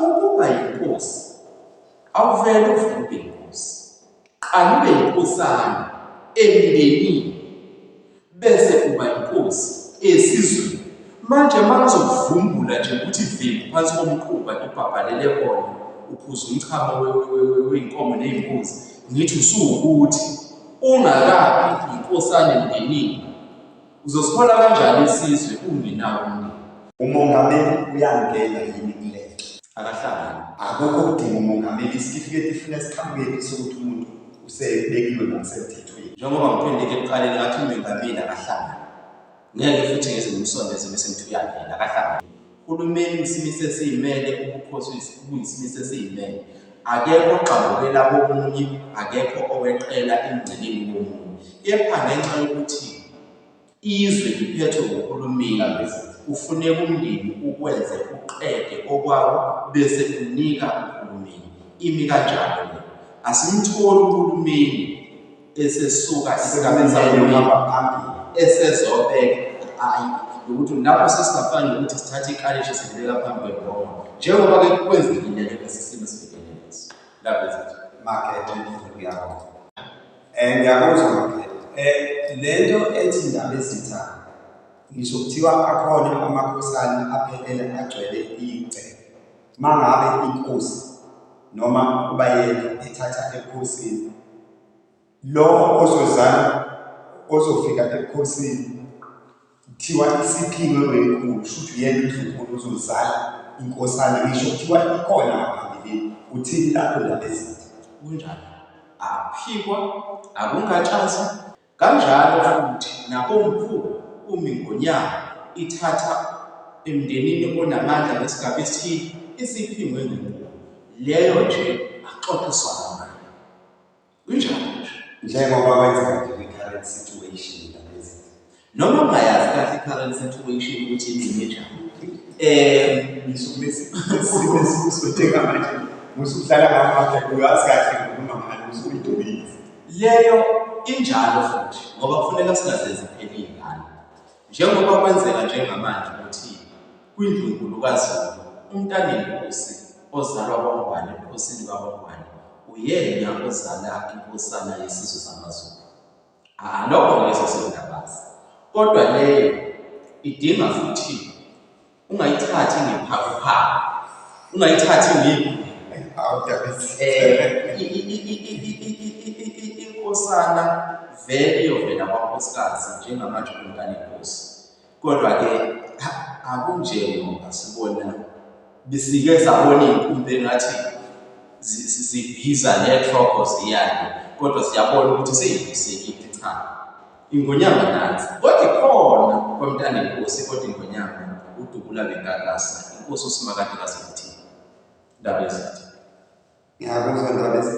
Ukuba yinkosi awuvele uvele ube yinkosi. Qala ube yinkosana emndenini bese uba yinkosi esizweni. Manje uma ngizokuvumbula nje ukuthi vimbi phansi komquba ibhabhalele kona uphuza umchamo wey'nkomo ney'mbuzi ngithi usuwukuthi ungakabi yinkosana emndenini Uzosihola kanjani isizwe ungenawo umndeni? Umongameli uyangena yini kulento? Akahlangani. Akukho kudinga umongameli isitifiketi ifuna siqhamukephi sokuthi umuntu usebekiwe ngokusemthethweni. Njengoba ngiphendeke ekuqaleni ngathi umengameli akahlangani. Ngeke futhi ngize ngimsondeze bese ngithi uyangena, akahlangani. Uhulumeni uyisimiso esiyimele, ubukhosi buyisimiso esiyimele. Akekho ogxambukela komunye, akekho oweqela emngceleni womunye. Kepha ngenxa yokuthi izwe liphethwe nguhulumeni kufuneka umndeni ukwenze uqede okwawo bese unika uhulumeni. Imi kanjalo le. Asimtholi uhulumeni esesuka esigabeni sakuhamba phambili esezobeka ayi ukuthi lapho sesingafani nokuthi sithathe ikalishi sibeka phambi kwebhoma njengoba-ke kwenzekile ke lesi simo esibhekene naso labenza makethe ngiyabona um ngiyakuzwa makethe um le nto ethi ndaba ezitha ngisho kuthiwa akhona amakhosana aphelele agcwele igceke Mangabe inkosi noma ubayeka ithatha ekhosini lo ozozala ozofika ekhosini kuthiwa isiphingwe wenkulu shuthi yena uzokhona uzozala inkosana ngisho kuthiwa ikhona ngaphambilini uthini lapho ndabezitha kunjani aphikwa akungatshazi Kanjalo futhi nakoMkhulu umi ngonyaka ithatha emndenini onamandla ngesigaba esithile esiphingwe ngenqubo. Leyo nje axoxiswana nayo. Kunjalo nje. Njengoba kwenzeka nje kwi-current situation ngalezi. Noma ungayazi kahle i-current situation ukuthi ingcine njani. Eh ngisuke bese sibe sibuswe njengamanje. Musuhlala ngaphandle uyazi kahle ngokukhuluma ngalo usuyidobi. Leyo injalo futhi ngoba kufuneka singazenzi phela iy'ngane. Njengoba kwenzeka njengamanje ukuthi kwindlunkulu kaZulu umntanenkosi ozalwa kwaNgwane ebukhosini bakwaNgwane uyena ozala inkosana yesizwe samaZulu. Ah, lokho ngeke sesikungabazi. Kodwa leyo idinga futhi ungayithathi ngephakuphaku ungayithathi ngeyiguli inkosana vele iyovela kwankosikazi njengamanje umntana inkosi kodwa-ke akunjengoba sibona besike sabona iy'nkumbi engathi zibhiza nethrogo ziyane kodwa siyabona ukuthi seyibisekile cha Ingonyama nansi. Kodwa ikhona kwamntana inkosi kodwa ingonyama udubula ngenkakasa. Inkosi usimakade kazokuthini. Ndaba ezithi. Ngiyakuzwa ndaba ezithi.